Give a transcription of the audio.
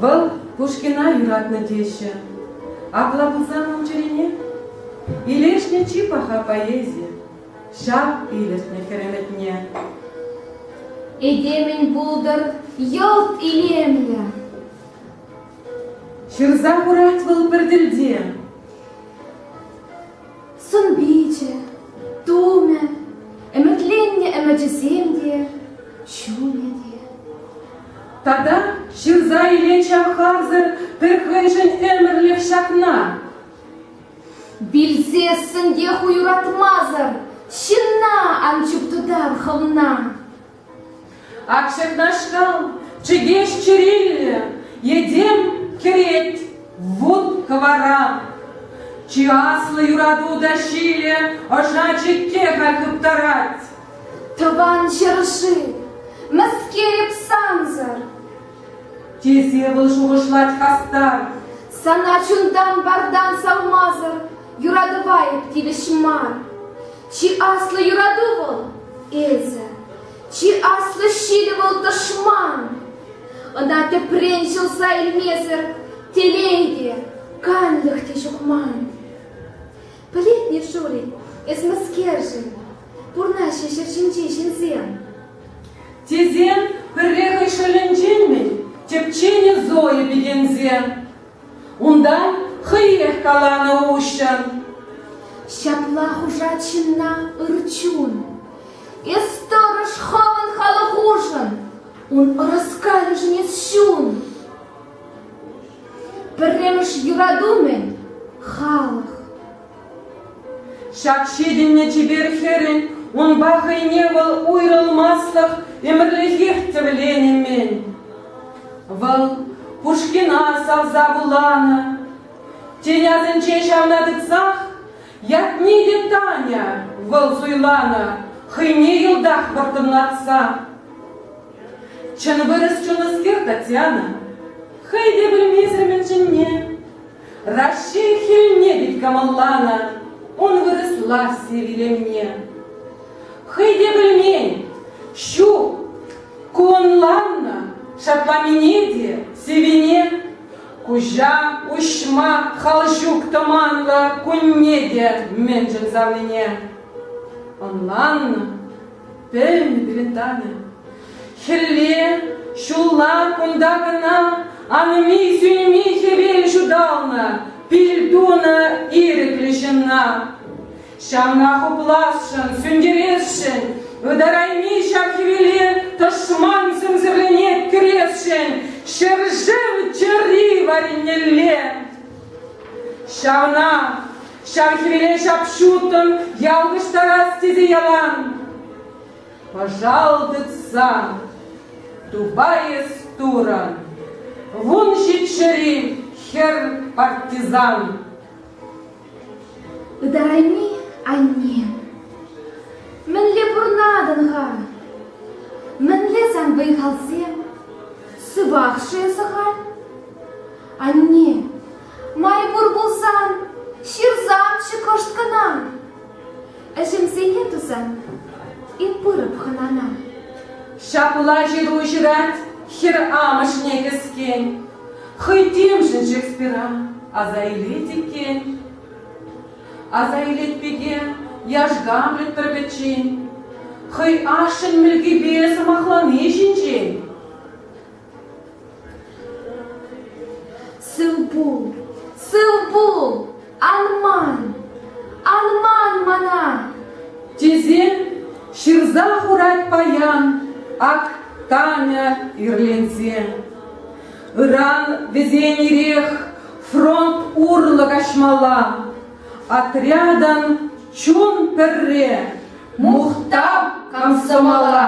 Вӑл Пушкина юратнӑ теҫҫӗ. Апла пулсан ун чӗрине? Илешнӗ чи паха поэзи ҫав илӗртнӗ хӗремӗтне. Этемӗн пултӑр йӑлт илемлӗ. Ҫырса хурать вӑл пӗр тӗлте. Сӑн-пичӗ, тумӗ, ӗмӗтленнӗ ӗмӗчӗсем те, чунӗ те. Тата ҫырса илет ҫавхарсӑр пӗр хӑйшӗн ӗмӗрлӗх ҫакна. Вилсессӗн те ху юратмасӑр ҫынна ан чуптутар хӑвна. Ак ҫакнашкал чӗкеҫ чӗриллӗ Этем кӗрет вут кӑвара. Чи аслӑ юрату та ҫилӗ Ӑша чикке-ха хыптарать. Тӑван ҫӗршыв, мӗскер сансӑр? Тесе вӑл шухӑшлать хастар. Сана чунтан-пардан савмасӑр Юратӑва эп тивӗҫ мар. Чи аслӑ юрату вӑл – эсӗ, чи аслӑ ҫилӗ вӑл – тӑшман. Ӑна тӗпрен ҫӑлса илмесӗр телей те, канлӗх те ҫук ман. Пӗлетне, Шурик, эс мӗскершӗн? Пурнаҫҫӗ ҫӗр ҫинчи ҫынсем. Тесен пӗрре хӑй шӑлӗнчен-мӗн тӗпченӗ Зоя пикенсе. Унта хӑйех каланӑ уҫҫӑн. Ҫапла хушать ҫынна ыр чун. Эс тӑрӑш хӑвӑн халӑх хушӑн, ун ӑраскалӗшӗн чун. Пӗрремӗш юрату-мӗн халӑх. Ҫак ҫитӗннӗ чипер хӗрӗн унпа хӑйне вӑл уйрӑлмаслӑх ӗмӗрлӗхех тӗвленӗ-мӗн. Вӑл Пушкина савса вуланӑ. Тен, асӗнче ҫавна тытсах ятне те Таня вӑл суйланӑ хӑйне йӑлтах вӑрттӑнлатса. Чӑн вырӑс чунлӑскер Татьяна хӑй те пӗлмесӗр мӗн чӗнне. Раҫҫей хӗлне пек кӑмӑлланӑ ун вырӑсласси виленме. Хӑй те пӗлмен, ҫук, ку ӑнланнӑ шакламине те, сивӗне. Куҫа уҫма хал ҫук тӑманлӑ кунне те мӗншӗн савнине. Ӑнланнӑ, пӗлнӗ пирӗн Таня. Хӗлле, ҫулла кунта кӑна анми-сӳнми хӗвел ҫуталнӑ, пил тунӑ ирӗклӗ ҫынна. Ҫавна хупласшӑн, сӳнтересшӗн, ытарайми ҫав хӗвеле тӑшман сӗмсӗрленет кӗресшӗн ҫӗршыв чӗри варинелле. Ҫавна, ҫав хӗвеле ҫап-ҫутӑн ялкӑштарас тесе ялан. Пӑшалтытса тупайӑс турӑн, Вун ҫиччӗри хӗр партизан. Ытарайми, анне, мӗнле пурнатӑн-ха? Мӗнле сан вӑй-халсем? Сывах-ши эсӗ халь? Анне, май пур пулсан, ҫырсамччӗ кӑшт кӑна. Ӗҫӗмсене тусан эп пырӑп хӑнана. Ҫапла ҫыру ҫырать хӗр амӑшне кӗскен. Хӑй темшӗн Шекспира аса илет иккен. Аса илет пике яш Гамлет пӗр-пӗччен. Хӑй ашшӗн мӗлкипе сӑмахлани ҫинчен. Сывпул, сывпул, ан ман, ан ман мана, тесе ҫырса хурать паян ак Таня ирленсе. Ыран вӗсен ирех фронт урлӑ каҫмалла. Отрядӑн чун пӗрре мухтав комсомола.